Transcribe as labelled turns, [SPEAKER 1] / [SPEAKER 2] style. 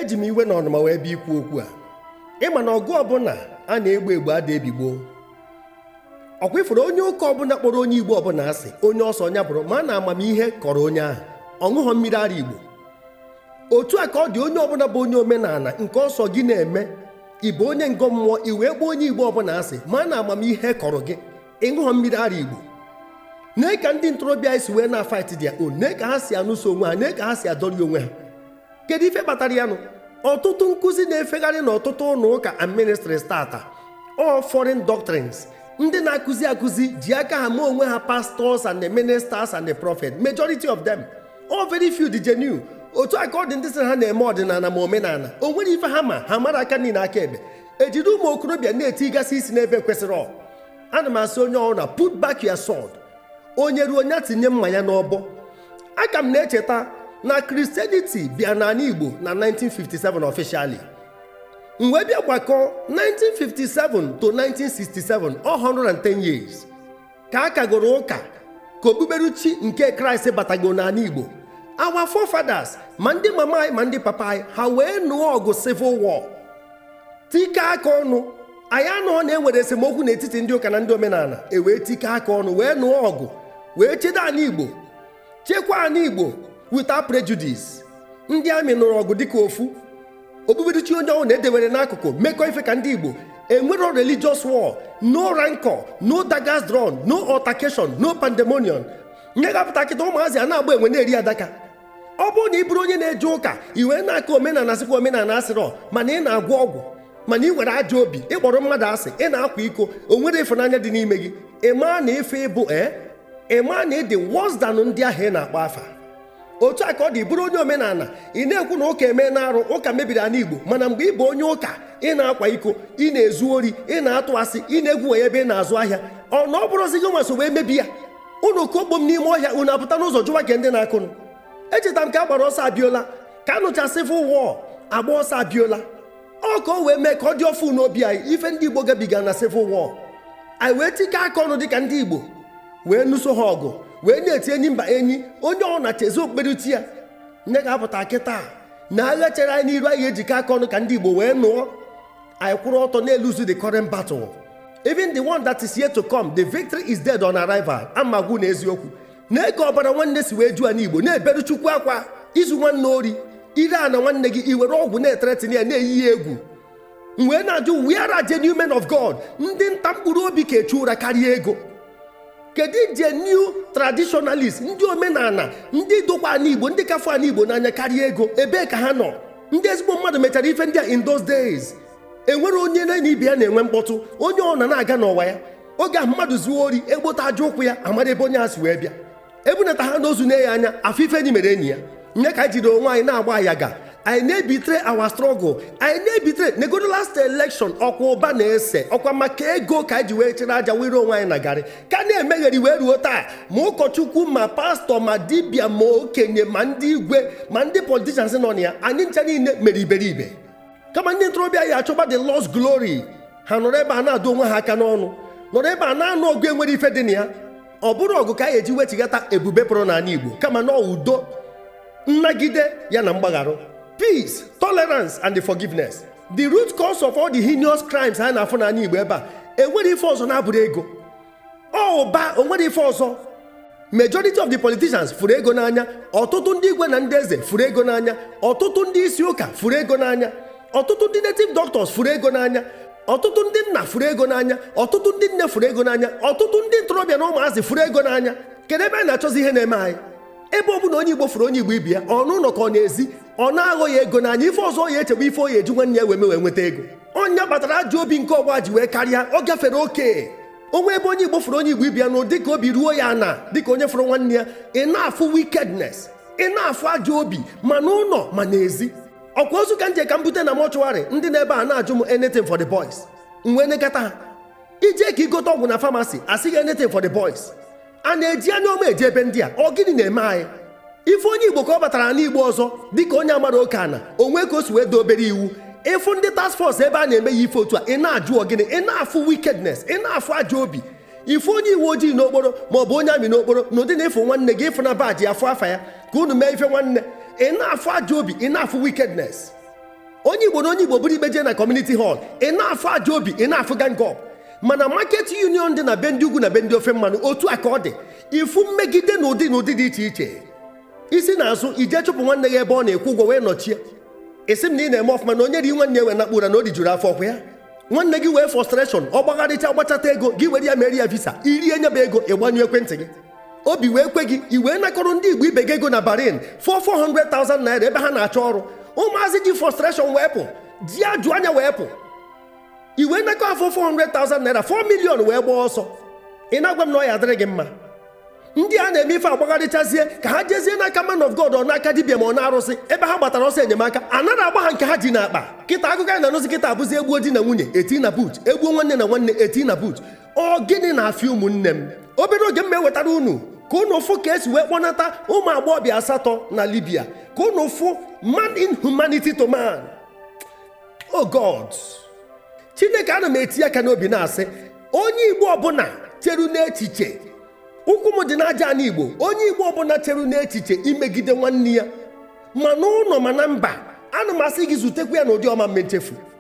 [SPEAKER 1] eji m iwe na ọnụma wee bịa ikwu okwu a ị ma na ọgụ ọbụla a na-egbu egbu ada ebi gboo ọkwa ị fụrụ onye ụka ọbụla kpọrọ onye igbo ọbụla asị onye ọ sọ nya bụrụ ma na amamihe kọrọ onye ahụ ọ ṅụghọ mmiri ara igbo otu a ka ọ dị onye ọbụla bụ onye omenala nke ọ sọ gị na-eme ị bụ onye ngọ mmụọ i wee kpọọ onye igbo ọbụla asị ma na amamihe kọrọ gị ị ṅụghọ mmiri ara igbo nee ka ndị ntorobịa anyị si wee na-afight their own nee ka ha si anụso onwe ha nee ka ha si adọri onwe ha kedu ife kpatara ya nụ ọtụtụ nkụzi na-efegharị n'ọtụtụ ụlọ ụka and ministries taata all foreign doctrines ndị na-akụzi akụzi ji aka ha mee onwe ha pastors and the ministers and the prophet majority of them all very few dị genuine otu a ka ọ dị ndị sị ha na-eme ọdịnala ma omenala o nwere ife ha ma ha mara aka nni na aka ekpe e jiri ụmụ okorobịa na-etigasị isi n'ebe ekwesịrọ ana m asị onye ọbụna put back your sword onye ruo onye tinye mma ya n'ọbọ aka m na-echeta na christianity bịa n'ala igbo na 1957 officially m wee bịa gbakọ 1957 to 1967 110 years ka a kagoro ụka ka okpukperechi nke kraịst batago n'ala igbo our forefathers ma ndị mama anyị ma ndị papa anyị ha wee nụọ ọgụ civil war tikọ aka ọnụ anyị anụhọ na e nwere esemokwu n'etiti ndị ụka na ndị omenala e wee tikọ aka ọnụ wee nụọ ọgụ wee chedo ala igbo chekwaa ana igbo without prejudice ndị anyị nụrụ ọgụ dịka ofu okpukperechi onye ọbụna e dewere n'akụkụ mekọ ife ka ndị igbo enwero religious war no rancor no daggers drawn no altercation no pandemonium nye ga-apụta kịta ụmụazị a na-agba enwe na-eri adaka ọ bụrụ na ị bụrụ onye na-eje ụka i wee na-akọ omenala sịkwa omenala asịrọ mana ị na-agwọ ọgwụ mana ị nwere ajọ obi ị kpọrọ mmadụ asị ị na-akwa iko o nwerọ ịfụnanya dị n'ime gị ị maa na ife ị bụ ee ị maa na ị dị worse than ndị ahụ ị na-akpọ afa otu a ka ọ dị bụrụ onye omenala ị na-ekwu na ụka emena arụ ụka mebiri ala igbo mana mgbe ị bụ onye ụka ị na-akwa iko ị na-ezu ori ị na-atụ asị ị na-egwu wayo ebe ị na-azụ ahịa ọ na ọ bụrọzi gị nwa so wee mebi ya unu kụọ kpom n'ime ọhịa unu apụta n'ụzọ jụwa ke ndị na-akụ nụ echeta m ka a gbara ọsọ abiola ka a nụcha civil war a gbaa ọsọ abiola ọ ka o wee mee ka ọ dị ọfụ n'obi anyị ife ndị igbo gabiga na civil war anyị wee tikọ aka ọnụ dịka ndị igbo wee nụso ha ọgụ wee na-eti enyi mba enyi onye ọ na-echezi okpukperechi ya nye ga-apụta kịta na agha chere anyị n'iru anyị ejikọ aka ọnụ ka ndị igbo wee nụọ anyị kwụrụ ọtọ na-elose the current battle even the one that is yet to come the victory is dead on arrival a m agwa unu eziokwu nee ka ọbara nwanne si wee ju ana igbo na-eberu chukwu akwa i zuo nwanne ori i ree ana nwanne gị i were ọgwụ na-ethreaten ya na-eyi ya egwu m wee na-ajụ where are genuine men of God ndị nta mkpụrụ obi ka echu ụra karịa ego kedu genuine traditionalist ndị omenala ndị dokwa ana igbo ndị ka fụ ana igbo n'anya karịa ego ebee ka ha nọ ndị ezigbo mmadụ mechara ife ndị a in those days e nwerọ onye na ibe ya na-enwe mkpọtụ onye ọbụna na-aga n'ọwa ya oge ahụ mmadụ zuo ori e kpota aja ụkwụ ya a mara ebe onye a si wee bịa e bunata ha n'ozu na ya anya afụ ife enyi mere enyi ya nee ka anyị jiri onwe anyị na-agba ayaga anyị na-ebetray our struggle anyị na-ebetray negodu last election ọkwa ụba na-ese ọkwa maka ego ka anyị ji wee chere aja were onwe anyị na garị ka na-emegheri wee ruo taa ma ụkọchukwu ma pastor ma dibịa ma okenye ma ndị igwe ma ndị politicians nọ na ya anyị ncha niile mere iberibe kama ndị ntorobịa ya-achọba the lost glory ha nọrọ ebe a na-adụ onwe ha aka n'ọnụ nọrọ ebe a na-anụ ọgụ e nwerọ ife dị na ya ọ bụrọ ọgụ ka a ga-eji wechigata ebube pụrụ n'ana Igbo kama na udo nnagide ya na mgbagharụ peace tolerance and the forgiveness the root cause of all the heinous crimes a na-afụ n'ana Igbo ebe a e nwerọ ife ọzọ na-abụrọ ego ụba o nwerọ ife ọzọ majority of the politicians fụrụ ego n'anya ọtụtụ ndị igwe na ndị eze fụrụ ego n'anya ọtụtụ ndị isi ụka fụrụ ego n'anya ọtụtụ ndị native doctors fụrụ ego n'anya ọtụtụ ndị nna fụrụ ego n'anya ọtụtụ ndị nne fụrụ ego n'anya ọtụtụ ndị ntorobịa na ụmụazị fụrụ ego n'anya kedu ebe a na-achọzi ihe na-eme anyị ebe ọ bụ na onye igbo fụrụ onye igbo ibe ya ọ n'ụnọ ka ọ n'ezi ọ na-aghọ ya ego n'anya ife ọzọ ọ ya-eche bụ ife ọ ya-eji nwanne ya wee mee wee nweta ego ọ ya kpatara ajọ obi nke ọgbọ a ji wee karịa ọ gafere oke o nwe ebe onye igbo fụrụ onye igbo ibe ya na dịka obi ruo ya ana dịka onye fụrụ nwanne ya ị na-afụ wickedness ị na-afụ ajọ obi ma n'ụlọ ma n'ezi ọkwa ozu ka m je ka m bute na mortuary ndị nọ ebe a na-ajụ m anything for the boys m wee nekata ha i je ka i gote ọgwụ na pharmacy a sị gị anything for the boys a na-eji anya ọma eje ebe ndị a ọ gịnị na-eme anyị ị fụ onye igbo ka ọ batara ana igbo ọzọ dịka onye amarọ oke ana o nwe ka o si wee daa obere iwu ị fụ ndị task force ebe ha na-eme ya ife otu a ị na-ajụ ọ gịnị ị na-afụ wickedness ị na-afụ ajọ obi ị fụ onye uwe ojii n'okporo ma ọ bụ onye army n'okporo na ụdị na ị fụ nwanne gị ị fụ na badge afụ afa ya ka unu mee ife nwanne ị na-afụ ajọ obi ị na-afụ wickedness onye igbo na onye igbo buru ikpe jee na community hall ị na-afụ ajọ obi ị na-afụ gang up ma na market union dị na be ndị ugwu na be ndị ofe mmanụ otu a ka ọ dị ị fụ mmegide n'ụdị n'ụdị dị iche iche i si n'azụ i je chụpụ nwanne gị ebe ọ nọ ị kwụọ ụgwọ wee nọchie ị sị m na ị na-eme ọfụma na onye rie nwanne ya wee nakpuo ụra na o rijuru afọ ọkwa ya nwanne gị wee frustration ọ gbagharịcha gbachata ego gị were ya mere ya visa i rie nyebe ego ị gbanyụọ ekwentị gị obi wee kwe gị i wee nakọrọ ndị igbo ibe gị ego na Bahrain four 400,000 naira ebe ha na-achọ ọrụ ụmụazị ji frustration wee pụ ji ajụ anya wee pụ i wee nakọọ four 400,000 naira 4 million wee gbaa ọsọ ị na-agwa m na ọ ya adịrị gị mma ndị a na-eme ife agbagharịchazie ka ha jezie n'aka man of god ọ n'aka dibịa ma ọ n'arụsị ebe ha gbatara ọsọ enyemaka a nara agba ha nke ha ji n'akpa kịta akụkọ anyị na-anụzi kịta abụzi egbuo di na nwunye eti na boot egbuo nwanne na nwanne eti na boot ọ gịnị na-afịọ ụmụnne m obere oge m ewetara unu ka unu fụ ka esi wee kpọnata ụmụ agbọghọbịa asatọ na Libya ka unu fụ man inhumanity to man oh God Chineke ana m eti aka n'obi na-asị onye Igbo ọbụla cheru n'echiche ụkwụ m dị n'aja ana Igbo onye Igbo ọbụla cheru n'echiche imegide nwanne ya ma n'ụlọ ma na mba ana m asị gị zutekwa ya n'ụdị ọ ma mme nchefu